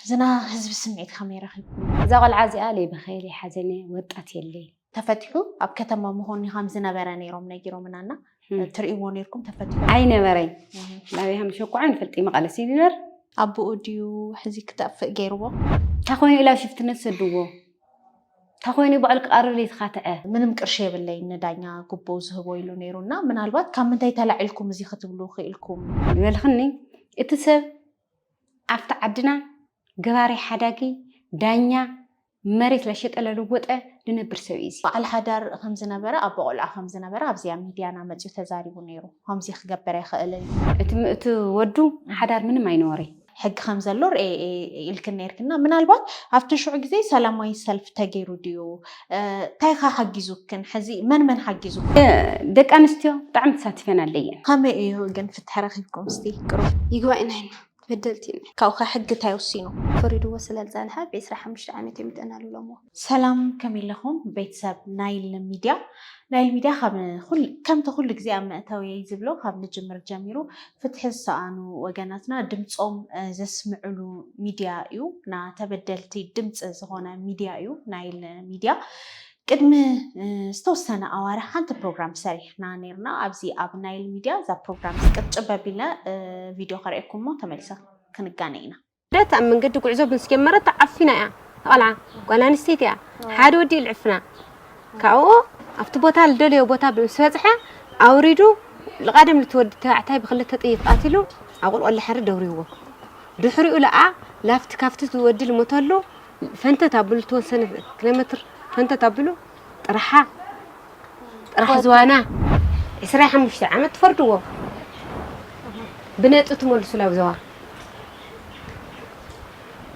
ዝና ህዝቢ ስምዒት ከመይ ረኺብኩሞ? እዛ ቆልዓ እዚኣ ለይበኸየ ለይሓዘነ ወጣት የለይ። ተፈቲሑ ኣብ ከተማ መኾኒ ከም ዝነበረ ነይሮም ነጊሮምና እና ትርእይዎ ነይርኩም ተፈቲሑ ኣይነበረይ ናበይ ከም ዝሸኩዖ ኣይንፈልጥይ መቐለ ሲሊነር ኣቦኡ ድዩ ሕዚ ክጠፍእ ገይርዎ? እንታይ ኮይኑ ኢላ ሽፍትነት ሰድዎ? እንታይ ኮይኑ እዩ ባዕሉ ክቐርር የተኻትዐ ምንም ቅርሺ የብለይን ንዳኛ ጉቦ ዝህቦ ኢሉ ነይሩ እና ምናልባት ካብ ምንታይ ተላዒልኩም እዚ ክትብሉ ክኢልኩም ዝበልኽኒ እቲ ሰብ ኣብቲ ዓድና ገባሪ ሓዳጊ ዳኛ መሬት ለሸጠ ለለወጠ ዝነብር ሰብ እዩ እዚ በዓል ሓዳር ከም ዝነበረ ኣቦ ቆልዓ ከም ዝነበረ ኣብዚኣ ሚድያና መፅኡ ተዛሪቡ ነይሩ ከምዚ ክገበር ኣይኽእልን እዩ እቲ እቲ ወዱ ሓዳር ምንም ኣይነበረይ ሕጊ ከም ዘሎ ርኤ እየ ኢልክን ነይርክና ምናልባት ኣብቲ ሽዑ ግዜ ሰላማዊ ሰልፊ ተገይሩ ድዩ እንታይ ከ ሓጊዙክን ሕዚ መን መን ሓጊዙክን ደቂ ኣንስትዮ ብጣዕሚ ተሳቲፈን ኣለየን ከመይ እዩ ግን ፍትሒ ረኺብኩም እስቲ ቅሩ ይግባእና ኢና በደልቲ ኢና ካብኡ ከ ሕጊ እንታይ ወሲኑ ፈሪድዎ ስለ ዝጸንሐ ብ ዕስራ ሓሙሽተ ዓመት እዮም የጠናልሎምዎ። ሰላም ከመይ ለኹም ቤት ሰብ ናይል ሚድያ ናይል ሚድያ ከምቲ ኩሉ ግዜ ኣብ መእተውየይ ዝብሎ ካብ ንጅምር ጀሚሩ ፍትሒ ዝሰኣኑ ወገናትና ድምፆም ዘስምዕሉ ሚድያ እዩ ና ተበደልቲ ድምፂ ዝኾነ ሚድያ እዩ ናይል ሚድያ ቅድሚ ዝተወሰነ ኣዋርሕ ሓንቲ ፕሮግራም ሰሪሕና ነርና ኣብዚ ኣብ ናይል ሚድያ እዛ ፕሮግራም ቅርጭብ ኣቢልና ቪድዮ ከርእየኩምሞ ተመልሰ ክንጋነ ኢና ረት ኣብ መንገዲ ጉዕዞ ምስ ጀመረት ተዓፊና እያ ተቐልዓ። ጓል ኣንስተይቲ እያ። ሓደ ወዲ እዩ ልዕፍና። ካብኡ ኣብቲ ቦታ ልደለዮ ቦታ ምስ በጽሐ ኣውሪዱ ልቓደም ልቲ ወዲ ተባዕታይ ብክልተ ጥይት ቃቲሉ ኣብ ቁልቁል ልሐሪ ደውሪዎ። ድሕሪኡ ለኣ ላፍቲ ካብቲ ወዲ ልሞተሉ ፈንተት ኣብሉ ልተወሰነ ኪሎሜትር ፈንተት ኣብሉ ጥራሓ ጥራሕ ዝዋና ዕስራ ሓሙሽተ ዓመት ትፈርድዎ ብነጥብ ትመልሱ ላብ ዘዋ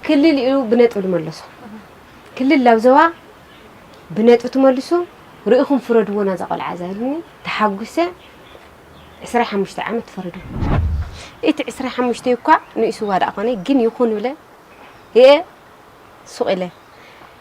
ክልል እዩ ብነጥብ ዝመለሶ ክልል ላብ ዘዋ ብነጥብ ትመልሱ ርኢኹም ፍረድዎ ናዛ ቆልዓ እዛ ኢሉኒ ተሓጒሰ ዕስራ ሓሙሽተ ዓመት ትፈረዱ እቲ ዕስራ ሓሙሽተ እኳ ንእስዋ ደኣ ኮነ ግን ይኹን ብለ እየ ሱቕ ኢለ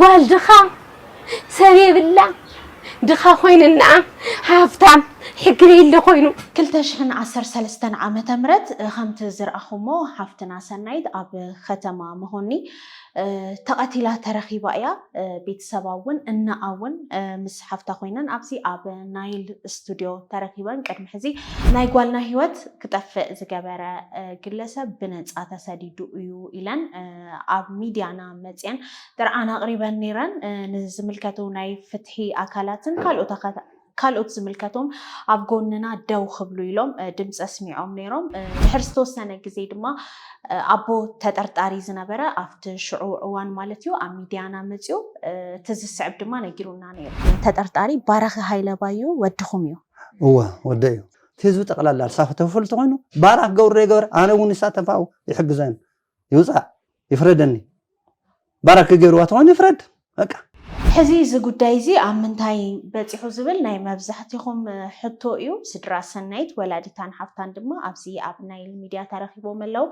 ጓል ድኻ ሰብ የብላ ድኻ ኮይንናኣ ሃፍታም ሕጊ ለይለ ኮይኑ። ክልተ ሽሕን ዓሰርተ ሰለስተን ዓመተ ምህረት ከምቲ ዝርኣኹሞ ሓፍትና ሰናይት ኣብ ኸተማ መኾኒ ተቐቲላ ተረኺባ እያ። ቤተሰባ እውን እንኣ እውን ምስ ሓፍታ ኮይነን ኣብዚ ኣብ ናይል ስቱድዮ ተረኺበን ቅድሚ ሕዚ ናይ ጓልና ህይወት ክጠፍእ ዝገበረ ግለሰብ ብነፃ ተሰዲዱ እዩ ኢለን ኣብ ሚድያና መፅየን ጥርዓን ኣቕሪበን ነይረን። ንዝምልከቱ ናይ ፍትሒ ኣካላትን ካልኦት ዝምልከቶም ኣብ ጎንና ደው ክብሉ ኢሎም ድምፂ ኣስሚዖም ነይሮም። ድሕሪ ዝተወሰነ ግዜ ድማ ኣቦ ተጠርጣሪ ዝነበረ ኣብቲ ሽዑ እዋን ማለት እዩ ኣብ ሚድያና መፅኡ እቲ ዝስዕብ ድማ ነጊሩና ነይሩ። ተጠርጣሪ ባራኺ ሃይለ ባዩ ወድኹም እዩ? እወ ወደይ እዩ። እቲ ህዝቢ ጠቕላላ ሳሆ ተፈልጡ ኮይኑ ባራኽ ገብሩ ደይገበረ ኣነ እውን ንሳተፋኡ ይሕግዘን ይውፃእ ይፍረደኒ ባራኪ ገይርዋ ተኾይኑ ይፍረድ በቃ። ሕዚ እዚ ጉዳይ እዚ ኣብ ምንታይ በፂሑ ዝብል ናይ መብዛሕቲኹም ሕቶ እዩ። ስድራ ሰናይት ወላዲታን ሓፍታን ድማ ኣብዚ ኣብ ናይል ሚድያ ተረኺቦም ኣለው።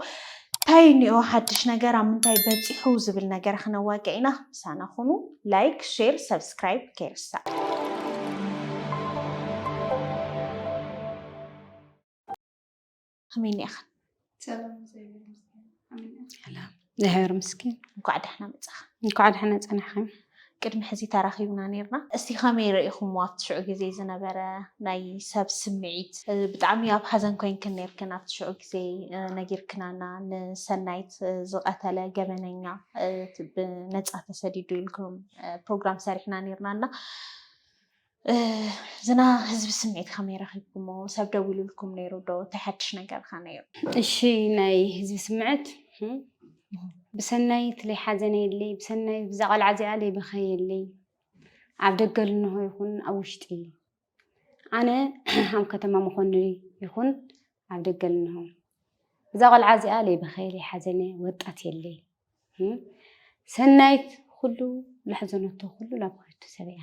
እንታይ እኒኦ ሓድሽ ነገር ኣብ ምንታይ በፂሑ ዝብል ነገር ክነዋግዕ ኢና። ምሳና ኹኑ። ላይክ፣ ሼር፣ ሰብስክራይብ ከይርሳዕ። ከመይ እኒኣኽን? ሰላም እግዚኣብሔር ምስኪን እንኳዕ ደሕና መፃኻ። እንኳዕ ደሕና ፀናሕኽን። ቅድሚ ሕዚ ተራኺብና ነርና እስቲ ከመይ ርኢኹሞ ኣብቲ ሽዑ ግዜ ዝነበረ ናይ ሰብ ስምዒት ብጣዕሚ ኣብ ሓዘን ኮይንክን ነርክን ኣብቲ ሽዑ ግዜ ነጊርክናና ንሰናይት ዝቀተለ ገበነኛ ብነፃ ተሰዲዱ ኢልኩም ፕሮግራም ሰሪሕና ነርና እና ዝና ህዝቢ ስምዒት ከመይ ረኺብኩሞ ሰብ ደዊሉልኩም ነይሩ ዶ እንታይ ሓድሽ ነገር ከ ነይሩ? እሺ ናይ ህዝቢ ስምዕት ብሰናይት ለይሓዘነ የለይ ብሰናይት ብዛ ቐልዓ እዚኣ ለይበኸየ የለይ ኣብ ደገ ልንሆ ይኹን ኣብ ውሽጢ ኣነ ኣብ ከተማ መኾኒ ይኹን ኣብ ደገ ልንሆ ብዛ ቐልዓ እዚኣ ለይበኸየ ለይሓዘነ ወጣት የለይ ሰናይት ኩሉ ላሕዘነቶ ኩሉ ላብኸቱ ሰብ እያ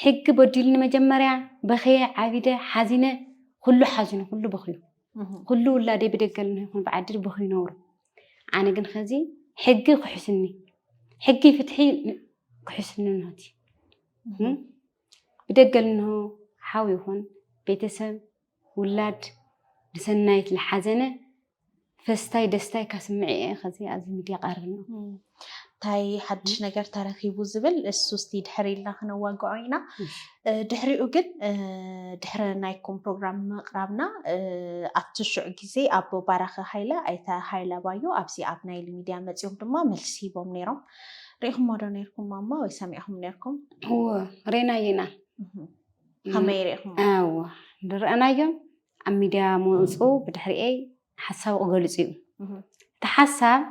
ሕጊ በዲልኒ መጀመርያ በኸየ ዓቢደ ሓዚነ ኩሉ ሓዚኑ ኩሉ በኽዩ ኩሉ ውላደይ ብደገል ይኹን ብዓዲ በኽዩ ነብሩ ኣነ ግን ኸዚ ሕጊ ክሕስኒ ሕጊ ፍትሒ ክሕስኒ ንሆቲ ብደገል ንሆ ሓው ይኹን ቤተሰብ ውላድ ብሰናይት ልሓዘነ ፈስታይ ደስታይካ ስምዒ እየ ከዚ ኣብዚ ሚድያ ቀርብና እንታይ ሓድሽ ነገር ተረኪቡ ዝብል እሱ እስቲ ድሕር ኢልና ክነዋግዖ ኢና ድሕሪኡ ግን ድሕሪ ናይኩም ፕሮግራም ምቕራብና ኣብቲ ሽዑ ግዜ ኣቦ ባራኺ ሃይለ ኣይተ ሃይለ ባዩ ኣብዚ ኣብ ናይል ሚድያ መፅኦም ድማ መልሲ ሂቦም ነይሮም ሪኢኹሞ ዶ ነርኩም ማማ ወይ ሰሚዕኹም ነርኩም ሪእናዮ ኢና ከመይ ርኢኹም እወ ዝረኣናዮም ኣብ ሚድያ ምውፅኡ ብድሕሪኤይ ሓሳቡ ክገልፁ እዩ እቲ ሓሳብ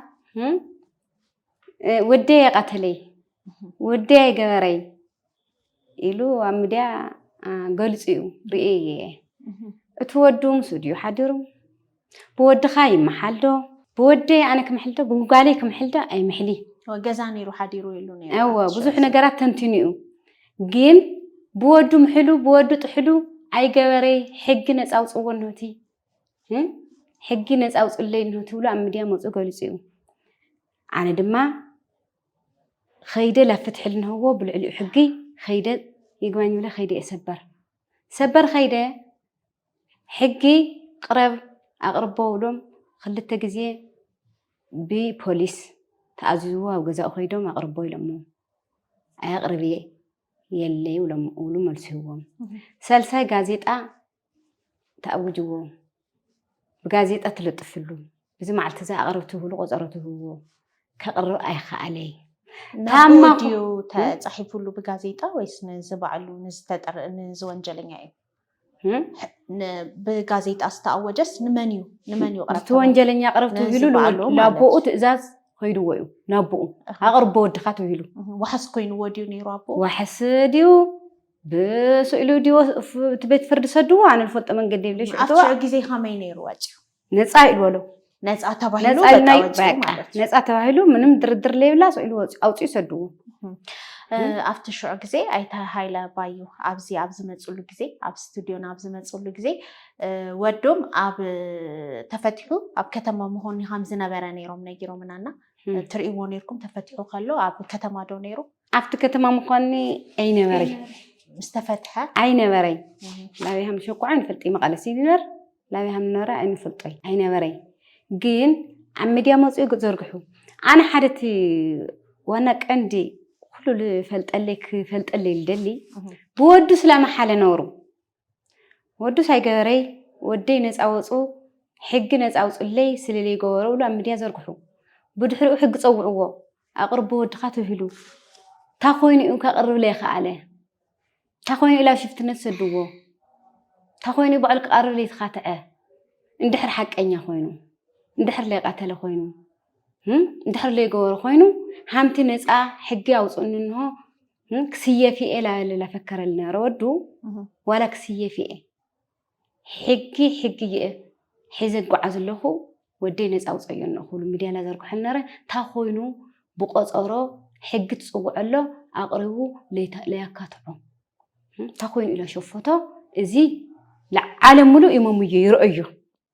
ወደይ የቐተለይ ወደይ ኣይገበረይ ኢሉ ኣብ ሚድያ ገልፁ እዩ ርኤ እየ እቲ ወዱ ምስኡ ድዩ ሓዲሩ ብወድኻ ይመሓል ዶ ብወደይ ኣነ ክምሕል ዶ ብጓለይ ክምሕል ዶ ኣይምሕሊ ገዛ ነይሩ ሓዲሩ ኢሉ ነይሩ ብዙሕ ነገራት ተንቲኑ እዩ ግን ብወዱ ምሕሉ ብወዱ ጥሕሉ ኣይገበረይ ሕጊ ነፃ ውፅዎ እነሆቲ ሕጊ ነፃ ውፅለይ እነሆቲ ብሎ ኣብ ሚድያ መፁ ገሊፁ እዩ ኣነ ድማ ከይደ ላብ ፍትሒ ልንህዎ ብልዕሊኡ ሕጊ ከይደ ይግባኝ ብለ ከይደ እየ ሰበር ሰበር ከይደ ሕጊ ቅረብ ኣቅርቦ እብሎም ክልተ ግዜ ብፖሊስ ተኣዚዝዎ ኣብ ገዛኡ ከይዶም ኣቅርቦ ኢሎሞ ኣየቅርብ እየ የለ ይብሎም እብሉ መልሱ ይህዎም ሰልሳይ ጋዜጣ ተኣውጅዎ ብጋዜጣ ትልጥፍሉ እዚ መዓልቲ እዚ ኣቅርብ ትብሉ ቆፀሮ ትህብዎ ከቅርብ ኣይከኣለይ ታማ ድዩ ተፃሒፉሉ ብጋዜጣ ወይስ ንዝባዕሉ ንዝተጠር ንዝወንጀለኛ እዩ ብጋዜጣ ዝተኣወጀስ ንመን እዩ ንመን እዩ እቲ ወንጀለኛ ቅረብ ትብሂሉ ንኣቦኡ ትእዛዝ ኮይንዎ እዩ ናቦኡ ኣቕርቦ ወድኻ ትብሂሉ ዋሕስ ኮይንዎ ድዩ ነይሩ ኣቦ ዋሕስ ድዩ ብስእሉ ድዩ እቲ ቤት ፍርዲ ሰድዎ ኣነ ዝፈልጦ መንገዲ የብለሽ ሽዑ ግዜ ከመይ ነይሩ ወፂኡ ነፃ ኢሉ በሎ ነፃ ተባሂሉ ነፃ በቃ ኢልናዩ ወፂኡ በቃ ማለት እዩ። ነፃ ተባሂሉ ምንም ድርድር ለይብላ ኢሉ ወፂኡ ኣውፅኡ ሰድዎ እ፣ ኣብቲ ሽዑ ግዜ ኣይተ ሃይለ ባዩ ኣብዚ ኣብ ዝመፅሉ ግዜ ኣብ ስቱድዮና ኣብ ዝመፅሉ ግዜ እ፣ ወዶም ኣብ እ፣ ተፈቲሑ ኣብ ከተማ መኾኒ ከም ዝነበረ ነይሮም ነጊሮምና እና እ፣ እ። ትርእይዎ ነይርኩም ተፈቲሑ ከሎ ኣብ ከተማ ዶ ነይሩ ኣብቲ ከተማ ምኳኒ ኣይነበረይ ምስ ተፈትሐ ኣይነበረይ እ፣ ላብይ ሃምሸኳዕን ፈልጢ መቐለ ሲሊነር ላብይ ሃምኖረ ኣይንፈልጦይ ኣይነበረይ ግን ኣብ ሚድያ መፅኡ ዘርግሑ ኣነ ሓደ እቲ ዋና ቀንዲ ኩሉ ልፈልጠለይ ክፈልጠለይ ልደሊ ብወዱስ ላመሓለ ነውሩ ወዱስ ኣይገበረይ ወደይ ነፃ ወፁ ሕጊ ነፃ ውፅለይ ስለለይ ገበሩ ብሉ ኣብ ሚድያ ዘርግሑ ብድሕሪኡ ሕጊ ፀውዕዎ ኣቕርቦ ወድኻ ተብሂሉ እንታይ ኮይኑ እዩ ከቕርብለይ ከኣለ እንታይ ኮይኑ ኢላ ሽፍትነት ሰድዎ እንታይ ኮይኑ ባዕሉ ክቐርብ ዘይተኻትዐ እንድሕር ሓቀኛ ኮይኑ እንድሕር ለይቀተለ ኮይኑ እንድሕር ለይገበሩ ኮይኑ ሓንቲ ነፃ ሕጊ ኣውፅእኒ እንሆ ክስየፍ እየ ላበለ ላፈከረል ነበረ ወዱ ዋላ ክስየፍ እየ ሕጊ ሕጊ እየ ሒዘ እጓዓዝ ኣለኹ ወደይ ነፃ ኣውፀዮ እኖ ክብሉ ሚድያ እናዘርግሖም ነረ እንታይ ኮይኑ ብቆፀሮ ሕጊ ትፅውዖ ኣሎ ኣቕሪቡ ለያካትዖ እንታይ ኮይኑ ኢለ ሸፎቶ እዚ ለዓለም ሙሉእ ይመምዮ ይረኦዮ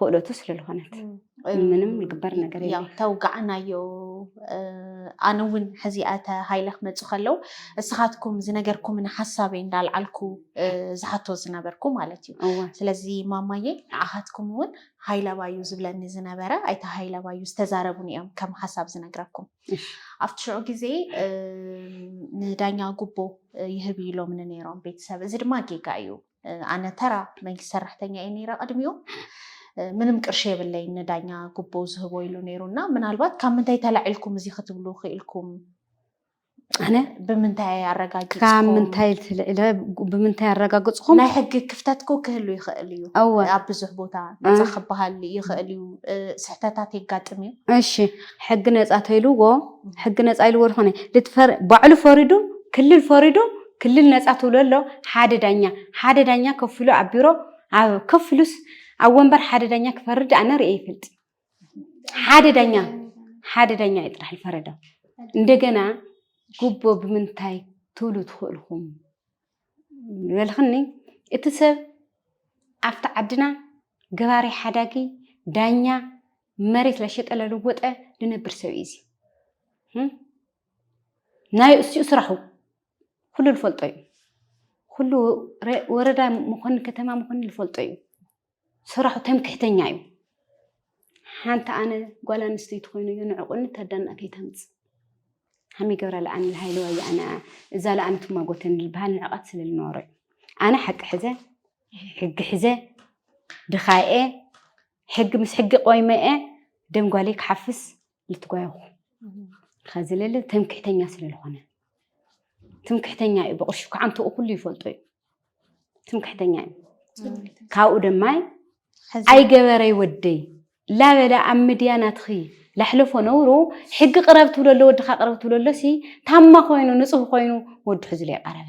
ክእለቱ ስለልኾነት ምንም ልግበር ነገር ተውጋዕናዮ ኣነ እውን ሕዚ ኣተ ሃይለ ክመፁ ከለው እስኻትኩም ዝነገርኩም ንሓሳበይ እንዳልዓልኩ ዝሓቶ ዝነበርኩ ማለት እዩ ስለዚ ማማየ ንዓኻትኩም እውን ሃይለባዩ ዝብለኒ ዝነበረ ኣይተ ሃይለባዩ ዝተዛረቡን እዮም ከም ሓሳብ ዝነግረኩም ኣብቲ ሽዑ ግዜ ንዳኛ ጉቦ ይህብ ኢሎምኒ ነይሮም ቤተሰብ እዚ ድማ ጌጋ እዩ ኣነ ተራ መንግስቲ ሰራሕተኛ እየ ነይረ ቅድሚኡ ምንም ቅርሺ የብለይ ንዳኛ ጉቦ ዝህቦ ኢሉ ነይሩ እና ምናልባት ካብ ምንታይ ተላዒልኩም እዚ ክትብሉ ክኢልኩም ኣነ ብምንታይ ኣረጋጊፅኩም ካብ ምንታይ ትልዕለ ብምንታይ ኣረጋግፅኹም ናይ ሕጊ ክፍተት ኮ ክህሉ ይኽእል እዩ እወ ኣብ ብዙሕ ቦታ ነፃ ክበሃል ይኽእል እዩ ስሕተታት የጋጥም እዩ እሺ ሕጊ ነፃ ተይልዎ ሕጊ ነፃ ኢልዎ ዝኾነ ባዕሉ ፈሪዱ ክልል ፈሪዱ ክልል ነፃ ትብለሎ ሓደ ዳኛ ሓደ ዳኛ ከፍ ኢሉ ኣብ ቢሮ ኣብ ከፍ ኢሉስ ኣብ ወንበር ሓደ ዳኛ ክፈርድ ኣነ ርእየ ይፈልጥ ሓደ ዳኛ ሓደ ዳኛ እዩ ጥራሕ ዝፈረደ እንደገና ጉቦ ብምንታይ ትብሉ ትኽእልኹም ዝበልኽኒ እቲ ሰብ ኣብቲ ዓድና ገባሪ ሓዳጊ ዳኛ መሬት ለሸጠ ለለወጠ ዝነብር ሰብ እዩ እዚ ናይ እሱኡ ስራሑ ኩሉ ዝፈልጦ እዩ። ኩሉ ወረዳ መኮንን ከተማ መኮንን ዝፈልጦ እዩ። ስራሑ ተምክሕተኛ እዩ። ሓንቲ ኣነ ጓል ኣንስተይቲ ኮይኑ እዩ ንዕቁኒ ተዳና ከይተምፅ ሃሚ ገብረ ለኣን ልሃይለ ወይ ኣነ እዛ ለኣን ትማጎተን ዝበሃል ንዕቐት ስለ ዝነበሮ እዩ። ኣነ ሓቂ ሕዘ ሕጊ ሕዘ ድኻኤ ሕጊ ምስ ሕጊ ቆይመኤ ደም ጓለይ ክሓፍስ ልትጓየኹ ከዚ ልል ትምክሕተኛ ስለልኾነ ትምክሕተኛ እዩ ብቕርሹ ክዓንትኡ ኩሉ ይፈልጦ እዩ ትምክሕተኛ እዩ ካብኡ ደማይ ኣይገበረይ ወደይ ላበለ ኣብ ምድያ ናትኺ ላሕለፎ ነውሩ ሕጊ ቅረብ ትብለሎ ወድኻ ቅረብ ትብለሎ ሲ ታማ ኮይኑ ንፁህ ኮይኑ ወዱ ሕዝሉ የቀረበ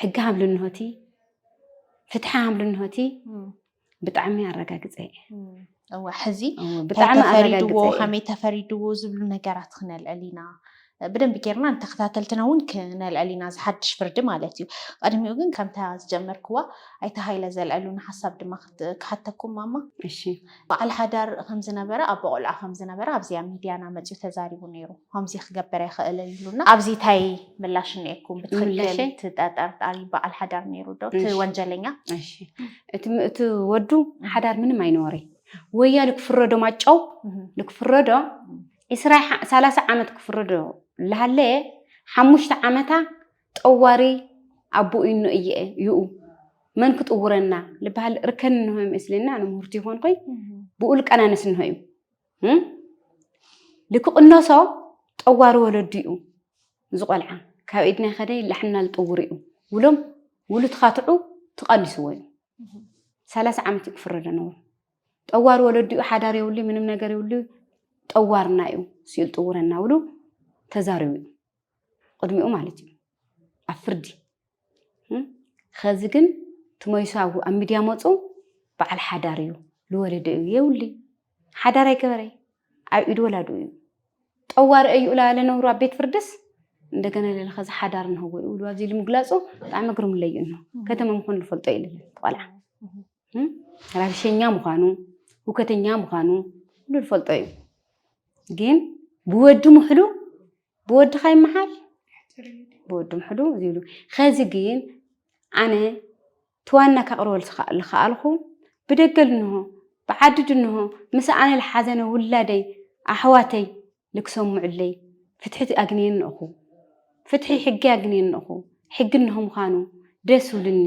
ሕጊ ሃምሉ እንሆቲ ፍትሒ ሃምሉ እንሆቲ ብጣዕሚ ኣረጋግፀ እወ ሕዚ ተፈሪድዎ ከመይ ተፈሪድዎ ዝብሉ ነገራት ክነልዕል ኢና ብደንብ ጌርና ንተከታተልትና እውን ክነልዕል ኢና ዝሓድሽ ፍርዲ ማለት እዩ ቅድሚኡ ግን ከምታ ዝጀመርክዋ ኣይተ ሃይለ ዘልዐሉና ሓሳብ ድማ ክሓተኩም ማማ እሺ በዓል ሓዳር ከም ዝነበረ ኣቦ ቆልዓ ከም ዝነበረ ኣብዚ ኣብ ሚድያና መፅዩ ተዛሪቡ ነይሩ ከምዚ ክገበር ኣይክእልን ኢሉና ኣብዚ እንታይ ምላሽ እኒኤኩም ብትክክል ምላሸይ? እቲ ተጠርጣሪ በዓል ሓዳር ነይሩ ዶ እቲ እሺ። ወንጀለኛ እሺ እቲ እቲ ወዱ ሓዳር ምንም ኣይነበረይ ወያ ልክፍረዶ ማጨው እህ፣ ልክፍረዶ ዕስራ ዓ- ሰላሳ ዓመት ክፍረዶ ልሃለየ ሓሙሽተ ዓመታ ጠዋሪ ኣቦ ኢኖ እየ ይኡ መን ክጥውረና ልበሃል ርከን እንሆ መስልና ኣነ ምህርቲ ይኮንኩይ ብኡ ልቀናነስ እንሆ እዩ ልክቕነሶ ጠዋሪ ወለዱ እዩ ዝቆልዓ ካብ ኢድና ከደ ላሕና ልጥውር እዩ ውሎም ውሉ ትኻትዑ ትቐንስዎ እዩ ሰላሳ ዓመት እዩ ክፍረደ ነብሩ ጠዋር ወለዲኡ ሓዳር የብሉ ምንም ነገር የብሉ ጠዋርና እዩ ስኢል ጥውረና ውሉ ተዛሪቡ እዩ ቅድሚኡ ማለት እዩ ኣብ ፍርዲ ኸዚ ግን ትመይሱ ኣብ ሚድያ መፁ በዓል ሓዳር እዩ ዝወለደ እዩ የብሉ ሓዳር ኣይገበረ ኣብ ኢድ ወላዱ እዩ ጠዋሪ እዩ እላ ለነብሩ ኣብ ቤት ፍርድስ እንደገና ለለ ኸዚ ሓዳር ንህዎ ይብሉ ኣብዚ ኢሉ ምግላፁ ብጣዕሚ ግርምለይ እዩ እንሆ ከተማ ምዃኑ ዝፈልጦ ኢሉ ቆልዓ ራብሸኛ ምዃኑ ሁከተኛ ምዃኑ ሁሉ ዝፈልጦ እዩ ግን ብወዲ ምሕሉ ብወድኻ ይመሓል ብወዲ ምሕዱ ዝብሉ ከዚ ግን ኣነ ትዋና ከቕርበል ዝኸኣልኩ ብደገ ልንሆ ብዓዲ ድንሆ ምስ ኣነ ልሓዘነ ውላደይ ኣሕዋተይ ልክሰምዑለይ ፍትሒ ኣግንየ ንእኹ ፍትሒ ሕጊ ኣግንየ ንእኹ ሕጊ እንሆ ምዃኑ ደስ ውልኒ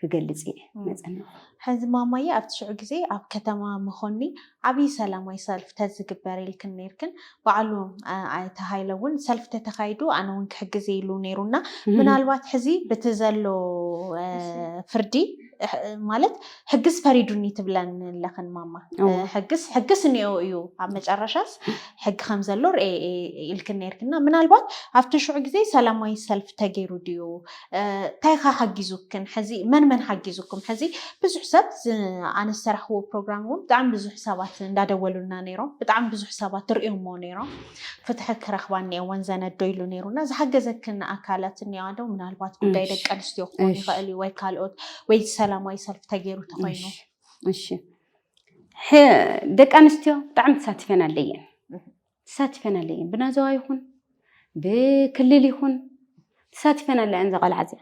ክገልፅ እየ መፀናኹ። ሕዚ ማማየ ኣብቲ ሽዑ ግዜ ኣብ ከተማ መኾኒ ዓብይ ሰላማይ ሰልፍ ተዝግበር ኢልክን ነይርክን ባዕሉ ኣይተ ሃይለ እውን ሰልፍ ተተኻይዱ ኣነ እውን ክሕግዝ እየ ኢሉ ነይሩ እና ምናልባት ሕዚ ብቲ ዘሎ ፍርዲ ማለት ሕግስ ፈሪዱኒ ትብለን ኣለኽን ማማ ሕግስ ሕግስ እኒኦ እዩ ኣብ መጨረሻስ ሕጊ ከም ዘሎ ርኤ ኢልክን ነይርክና ምናልባት ኣብቲ ሽዑ ግዜ ሰላማይ ሰልፍ ተገይሩ ድዩ ታይ ከ ሓጊዙክን ሕዚ መን መን ሓጊዙኩም ሕዚ ብዙሕ ሰብ ኣነ ዝሰራሕዎ ፕሮግራም እውን ብጣዕሚ ብዙሕ ሰባት እንዳደወሉና ነይሮም ብጣዕሚ ብዙሕ ሰባት ትሪኦሞ ነይሮም ፍትሒ ክረክባ እኒኦወን ዘነዶ ኢሉ ነይሩና ዝሓገዘክን ኣካላት እኒዋ ዶ ምናልባት ጉዳይ ደቂ ኣንስትዮ ክኾን ይኽእል እዩ ወይ ካልኦት ወይ ሰላማዊ ሰልፊ ተገይሩ ተኮይኑ እሺ ደቂ ኣንስትዮ ብጣዕሚ ተሳቲፈን ኣለየን ተሳቲፈን ኣለይ እየን ብናዘዋ ይኹን ብክልል ይኹን ተሳቲፈን ኣለ እየን ዘቐልዓ እዚኣ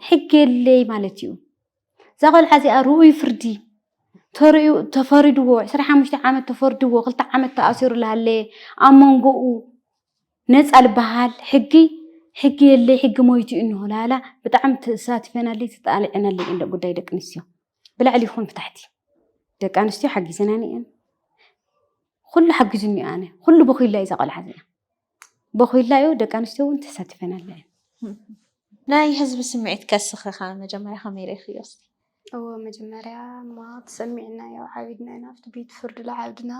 ሕጊ የለይ ማለት እዩ እዛ ቆልዓ እዚኣ ርኡይ ፍርዲ ተርእዩ ተፈሪድዎ 25 ዓመት ተፈርድዎ ክልተ ዓመት ተኣሲሩ ሃለየ ኣብ መንጎኡ ነፃ ዝበሃል ሕጊ ሕጊ የለይ ሕጊ ሞይቱ እዩ እንሆላላ ብጣዕሚ ተሳቲፈናለይ ተጣልዐናለይ እንደ ጉዳይ ደቂ ኣንስትዮ ብላዕሊ ይኹን ብታሕቲ ደቂ ኣንስትዮ ሓጊዘናን እየን ኩሉ ሓጊዙኒ እዩ ኣነ ኩሉ በኩይላ እዩ ዛቆልዓ እዚኣ በኩይላ እዩ ደቂ ኣንስትዮ እውን ተሳቲፈን ኣለ ናይ ህዝቢ ስምዒት ከስኽኻ መጀመርያ ከመይ ርኢኽዮ እስቲ እዎ መጀመርያ እማ ተሰሚዕና ያው ዓቢድና ኢና ኣብቲ ቤት ፍርዲ ለዓብድና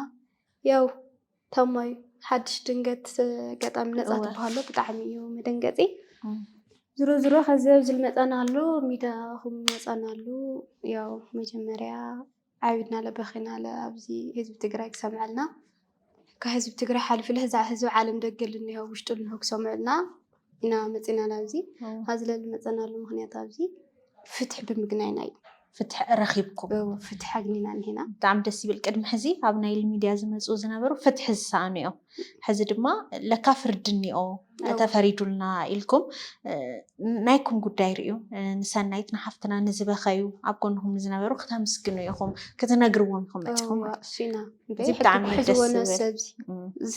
ያው ተሞይ ሓድሽ ድንገት ገጣሚ ነፃ ትበሃሎ ብጣዕሚ እዩ መደንገፂ ዝሮ ዝሮ ከዚ ኣብዚ ልመፃና ኣሎ ሚዳኹም መፃና ኣሎ ያው መጀመርያ ዓቢድናለ በኺናለ ኣብዚ ህዝቢ ትግራይ ክሰምዐልና ካብ ህዝቢ ትግራይ ሓሊፉ ህዝቢ ዓለም ደገ ልንሄው ውሽጡ ልንሄው ክሰምዑልና ኢና መፂና ኣብዚ ኣብዚ ለልመፀናሉ ምክንያት ኣብዚ ፍትሒ ብምግናይና እዩ ፍትሒ ረኺብኩም ፍትሒ ኣግኒና ኒና ብጣዕሚ ደስ ይብል ቅድሚ ሕዚ ኣብ ናይል ሚድያ ዝመፁ ዝነበሩ ፍትሒ ዝሰኣኑ እዮም ሕዚ ድማ ለካ ፍርዲ እኒኦ ተፈሪዱልና ኢልኩም ናይኩም ጉዳይ ርእዩ ንሰናይት ንሓፍትና ንዝበኸዩ ኣብ ጎንኹም ንዝነበሩ ክተምስግኑ ኢኹም ክትነግርዎም ኢኹም መፅኹም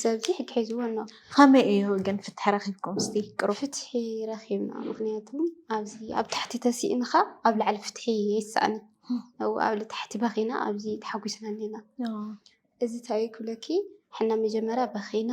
ሰብዚ ሕጊ ሒዝዎ ኣሎ ከመይ እዩ ግን ፍትሒ ረኪብኩም ስ ቅሩ ፍትሒ ረኪብና ምክንያቱ ኣብዚ ኣብ ታሕቲ ተሲእንካ ኣብ ላዕሊ ፍትሒ ይሰኣኒ ኣብ ታሕቲ በኺና ኣብዚ ተሓጒስና ኒና እዚ እንታይ ክብለኪ ሕና መጀመርያ በኺና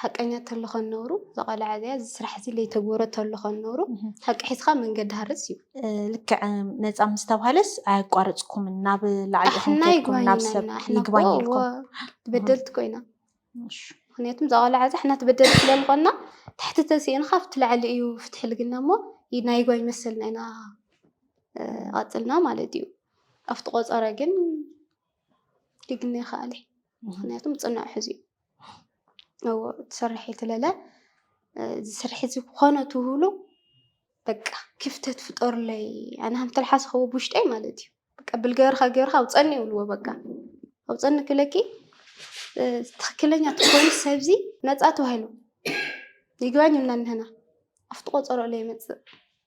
ሓቀኛ ተሎ ከነብሩ ዝቐልዓ እዚኣ እዚ ስራሕ እዚ ለይተግበሮ ተሎ ከነብሩ ሓቂ ሒዝካ መንገዲ ሃርስ እዩ ልክዕ ነፃ ምስ ተባሃለስ ኣያቋረፅኩምን ናብ ላዕሊ ኢኹም ኣሕና ከድኩም ናብ ሰብ ይግባኝና ኣሕና ይግባኝ እኮ ኢልኩም በደልቲ ኮይና እሺ። ምክንያቱም እዛ ቆልዓ እዚ ኣሕና ትበደል ስለ ዝኾና ትሕቲ ተሲእንካ ኣብቲ ላዕሊ እዩ ፍትሒ ልግና እሞ ይ- ናይ ይግባኝ መሰልና ኢና እ፣ ቐፅልና ማለት እዩ ኣብቲ ቆፀረ ግን ድግሜ ይኸኣል እየ ምክንያቱም ፅኑዕ ሕዙ እዩ እዎ ትሰርሐ ትለለ ዝስርሐ ዝኾነ ትህሉ በቃ ክፍተት ፍጠሩለይ ኣነ ሃም ተልሓስ ኸው ብሽጠይ ማለት እዩ በቃ ብልገርካ ገርካ ኣውፀኒ ይብልዎ በቃ ኣውፀኒ ክለኪ ትክክለኛ ትኮኑ ሰብዚ ነፃ ተባሂሉ ይግባኝ እና ንህና ኣብቲ ቆፀሮ ለይ መፅእ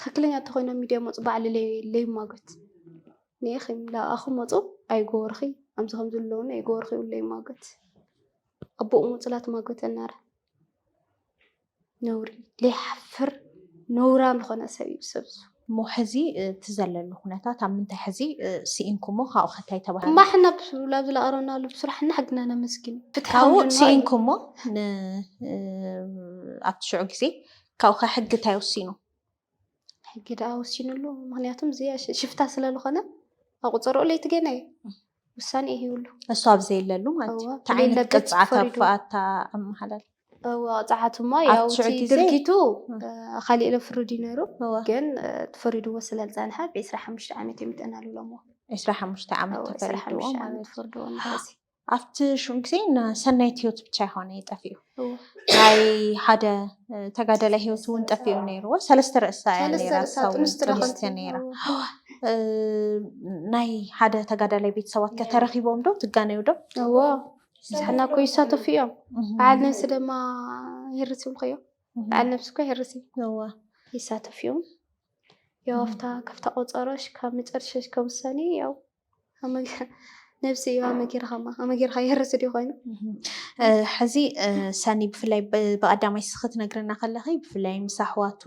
ትክክለኛ እንተኮይኖም ሚድያ ይመፁ ባዕሊ ለይሟገት ኒኢኪ ላኣኪ መፁ ኣይገበርኩ ከምዚ ከምዚ ኣለዉኒ ኣይገበርኩ ኢሉ ለይሟገት ኣቡኡ መፁ ላተሟገተኒ ኣረ ነዉሪ ለይሓፍር ነዉራም ዝኮነ ሰብ እዩ ሰብ እዙይ። እሞ ሕዚ እቲ ዘለሉ ኩነታት ኣብ ምንታይ ሕዚ ስኢንኩሞ ካብኡ ከታይ ተባሃለ እማ ሕና ብሱ- ላብ ዝለኣረናሉ ብስራሕ እና ሕግና ነመስግን እዩ። ፍትሒ ካብኡ ከምድና እዩ። ስኢንኩሞ ን- ኣብቲ ሽዑ ግዜ ካብኡከ ሕጊ እንታይ ወሲኑ? ሕጊ ደኣ ወሲኑ ኣሎ ምክንያቱም ዝያሽ ሽፍታ ስለ ዝኾነ ኣብ ቁፀርኦ ለይቲ ገና እዩ ውሳኔ እዩ ይብሉ እሱ ኣብ ዘይለሉ ማለት እዩ እቲ ዓይነት ቅፅዓት ኣፋኣታ ኣመሓላል ቅፅዓት እሞ ያው ድርጊቱ ካሊእ ኢሎም ፍርድ እዩ ነይሩ ግን ተፈሪድዎ ስለ ዝፀንሐ ብ ዕስራ ሓሙሽተ ዓመት እዮም ጠናልሎምዎ ዕስራ ሓሙሽተ ዓመት ተፈሪድዎ ማለት እዩ ኣብቲ ሽዑ ግዜ ሰናይት ህይወት ብቻ ይኮነ ጠፊኡ ናይ ሓደ ተጋደላይ ህይወት እውን ጠፊኡ ነይርዎ ሰለስተ ርእሳ ጥንስቲ ነይራ ናይ ሓደ ተጋዳላይ ቤተሰባት ከተረኪቦም ዶ ትጋነዩ ዶ እዎ ንሕና እኮ ይሳተፉ እዮም በዓል ነብሲ ድማ ይርስ እዮም ከዮ በዓል ነብሲ እኮ ይርስ እዎ ይሳተፉ እዮም ያው ኣፍታ ከፍታ ቆፀሮሽ ካብ መጨረሻሽ ከምሰኒ ያው ነብሲ እዩ ኣመጊርኻማ ኣመጊርካ ይህርስ ድዩ ኮይኑ ሕዚ ሰኒ ብፍላይ ብቀዳማይ ስ ክትነግረና ከለኺ ብፍላይ ምስ ኣሕዋቱ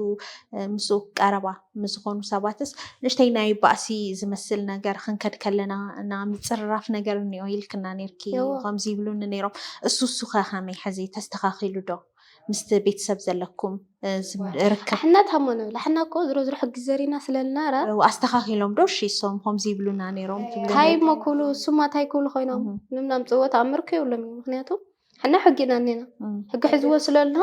ምስ ቀረባ ምስዝኾኑ ሰባትስ ንእሽተይ ናይ ባእሲ ዝመስል ነገር ክንከድ ከለና እና ምፅርራፍ ነገር እኒኦ ኢልክና ነርኪ ከምዚ ይብሉኒ ነይሮም እሱ እሱኸ ከመይ ሕዚ ተስተኻኺሉ ዶ ምስቲ ቤተሰብ ዘለኩም ርክብ? ኣሕና ታሞ ንብል ኣሕና እኮ ዝሮ ዝሮ ሕጊ ዘሪና ስለልናረ። ኣስተኻኺሎም ዶ እሺ እሶም ኾምዚ ይብሉና ነይሮም ትብሉ? ታይ እሞ ክብሉ እሱማ ታይ ክብሉ ኮይኖም ምንም ናምፅእዎ ተኣምር እኮ የብሎምን እዩ ምክንያቱ ኣሕና ሕጊ ኢና እኒና ሕጊ ሕዝዎ ስለልኖ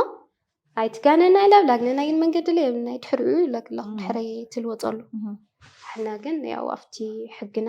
ኣይትጋነና ኢላ ብላግነና ግን መንገዲ ላይ የብልናይ ድሕሪኡ ይብለክ ኣለኹ ድሕረይ ትልወፀሉ ኣሕና ግን ያው ኣብቲ ሕግና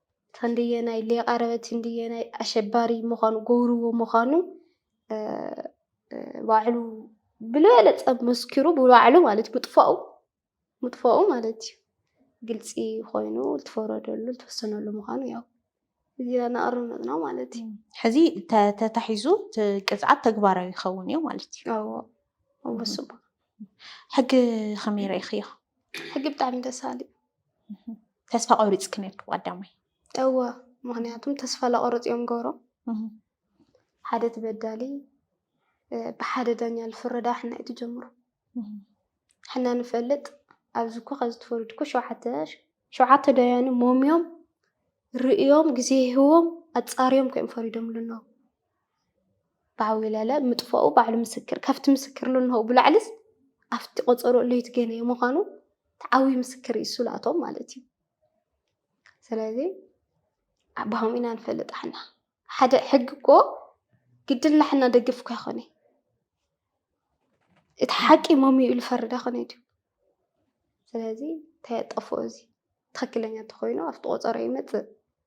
ክንደየናይ ሌቃ ረበት ክንደየናይ ኣሸባሪ ምዃኑ ጎብርዎ ምዃኑ ባዕሉ ብልበለፀ መስኪሩ ብባዕሉ ማለት ምጥፋኡ ምጥፋኡ ማለት እዩ ግልፂ ኮይኑ ዝተፈረደሉ ዝተወሰነሉ ምዃኑ ያው እዚና እናቐርብ መፅና ማለት እዩ። ሕዚ ተታሒዙ ቅፅዓት ተግባራዊ ይኸውን እዩ ማለት እዩ። ኣዎ ኣዎ ስቡ ሕጊ ከመይ ረኢኽዮ? ሕጊ ብጣዕሚ ደስ በሃሊ እዩ። ተስፋ ቆሪፅኪ ነርኪ ቀዳማይ እወ ምክንያቱም ተስፋ ለቆርፅ እዮም ገብሮም ሓደ ትበዳሊ ብሓደ ዳኛ ዝፍረዳ ሕና እዩ ትጀምሩ ሕና ንፈልጥ ኣብዚ እኮ ከዚ ትፈልጥ እኮ ሸውዓተ ሸውዓተ ዳያኑ ሞምዮም ርእዮም ግዜ ይህዎም ኣፃርዮም ከዮም ፈሪዶም ኣለዉ ብዓውለለ ምጥፋኡ ባዕሉ ምስክር ካብቲ ምስክር ለንሆ ብላዕልስ ኣብቲ ቆፀሮ ለይቲ ገይነዮ ምዃኑ ተዓውዩ ምስክር እዩ እሱ ላቶም ማለት እዩ። ስለዚ ኣባሆም ኢና ንፈልጥ ኣሕና ሓደ ሕጊ እኮ ግድን ላሕና ደግፍ እኳ ይኾነ እቲ ሓቂ መምዩ ኢሉ ፈርዳ ኮነ እዩ። ስለዚ ተየጠፍኦ እዚ ትኽክለኛ ተኾይኑ ኣብቲ ቆፀሮ ይመፅእ።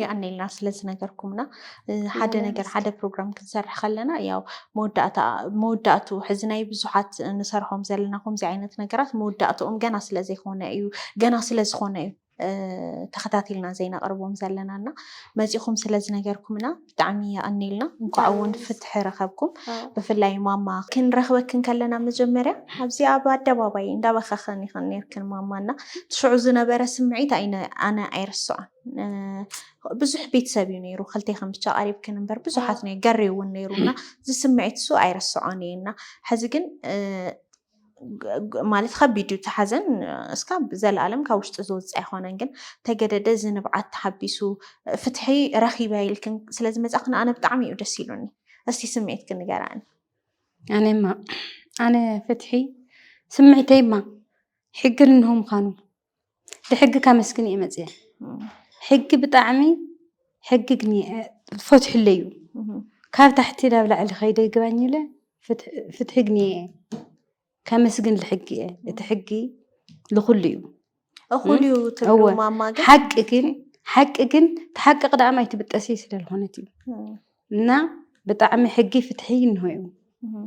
የቀኔልና ስለዝነገርኩምና ሓደ ነገር ሓደ ፕሮግራም ክንሰርሕ ከለና ያው መወዳእቱ ሕዚ ናይ ብዙሓት ንሰርሖም ዘለና ከምዚ ዓይነት ነገራት መወዳእትኦም ገና ስለዘይኮነ እዩ ገና ስለዝኾነ እዩ ተኸታቲልና ዘይነቕርቦም ዘለና እና መፂኹም ስለዝነገርኩምና ብጣዕሚ የቀኔልና እንኳዕ እውን ፍትሒ ረኸብኩም ብፍላይ ማማ ክንረኽበክን ከለና መጀመርያ ኣብዚ ኣብ ኣደባባይ እንዳበኸኸን ይኸን ነርክን ማማ እና ትሽዑ ዝነበረ ስምዒት ኣነ ኣይርስዖን ብዙሕ ቤተሰብ እዩ ነይሩ ክልቴክን ብቻ ቀሪብክን እምበር ብዙሓት ነ ገሬ እውን ነይሩ እና እዚ ስምዒት እሱ ኣይረስዖን እየ እና ሕዚ ግን ማለት ከቢድ እዩ ተሓዘን እስካ ዘለኣለም ካብ ውሽጢ ዝወፅእ ኣይኮነን ግን ተገደደ እዚ ንብዓት ተሓቢሱ ፍትሒ ረኪበ ኢልክን ስለ ዝመፃክን ኣነ ብጣዕሚ እዩ ደስ ኢሉኒ እስቲ ስምዒትክን ንገራኒ ኣነማ ኣነ ፍትሒ ስምዒተይማ ሕግን እንሆ ምኳኑ ብሕጊ ከመስግን እየ መፅየ ሕጊ ብጣዕሚ ሕጊ ግን ፈትሕለ እዩ ካብ ታሕቲ ናብ ላዕሊ ከይደ ይግባኝ ኢለ ፍትሒ ግን እየ ከመስግን ልሕጊ እየ እቲ ሕጊ ልኩሉ እዩ እኹል እዩ ትብሉ እወ። ማማ ግን ሓቂ ግን ሓቂ ግን ተሓቂ ቅዳማ ኣይትብጠሲ ስለ ዝኾነት እዩ እና ብጣዕሚ ሕጊ ፍትሒ እንሆ እዩ እም፣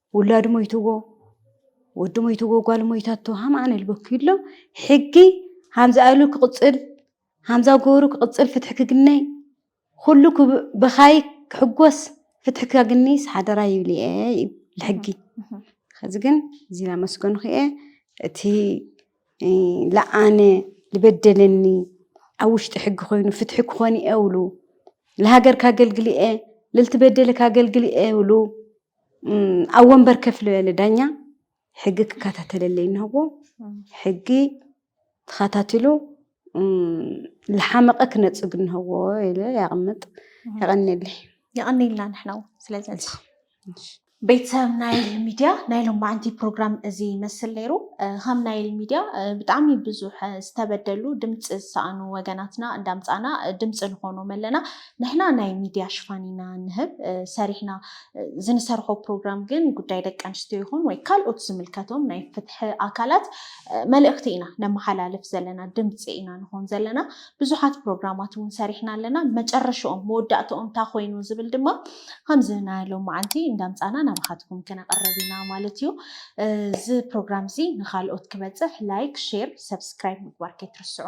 ውላድ ሞይትዎ ወዲ ሞይትዎ ጓል ሞይታቶ ሃምኣን ልበኩ ኢሎ ሕጊ ሃምዛ ኣሉ ክቕፅል ሃምዛ ጎሩ ክቕፅል ፍትሒ ክግነይ ኩሉ ብኻይ ክሕጎስ ፍትሒ ካግኒስ ሓደራ ይብል እየ እዩ ልሕጊ ከዚ ግን እዚ ላመስገንኹ እየ እቲ ለኣነ ዝበደለኒ ኣብ ውሽጢ ሕጊ ኮይኑ ፍትሒ ክኾን እየ ውሉ ንሃገር ካገልግል እየ ልልትበደለ ካገልግል እየ ውሉ ኣብ ወንበር ከፍ ልበለ ዳኛ ሕጊ ክከታተለለይ እንሆዎ ሕጊ ተኸታቲሉ ልሓመቐ ክነፅግ እንሆዎ ኢለ ያቕምጥ የቐኒየለይ የቐኒልና ንሕና እውን ስለዚ ቤተሰብ ናይል ሚድያ ናይ ሎማዓንቲ ፕሮግራም እዚ ይመስል ነይሩ ከም ናይል ሚድያ ብጣዕሚ ብዙሕ ዝተበደሉ ድምፂ ዝሰኣኑ ወገናትና እንዳምፃና ድምፂ ንኾኖም ኣለና ንሕና ናይ ሚድያ ሽፋን ኢና ንህብ ሰሪሕና ዝንሰርሖ ፕሮግራም ግን ጉዳይ ደቂ ኣንስትዮ ይኹን ወይ ካልኦት ዝምልከቶም ናይ ፍትሒ ኣካላት መልእኽቲ ኢና ነመሓላልፍ ዘለና ድምፂ ኢና ንኾን ዘለና ብዙሓት ፕሮግራማት እውን ሰሪሕና ኣለና መጨረሽኦም መወዳእትኦም እንታይ ኮይኑ ዝብል ድማ ከምዚ ናይ ሎማዓንቲ እንዳምፃና ናባኻትኩም ክነቕርብ ኢና ማለት እዩ እዚ ፕሮግራም እዚ ንካልኦት ክበፅሕ ላይክ ሼር ሰብስክራይብ ምግባር ከይትርስዑ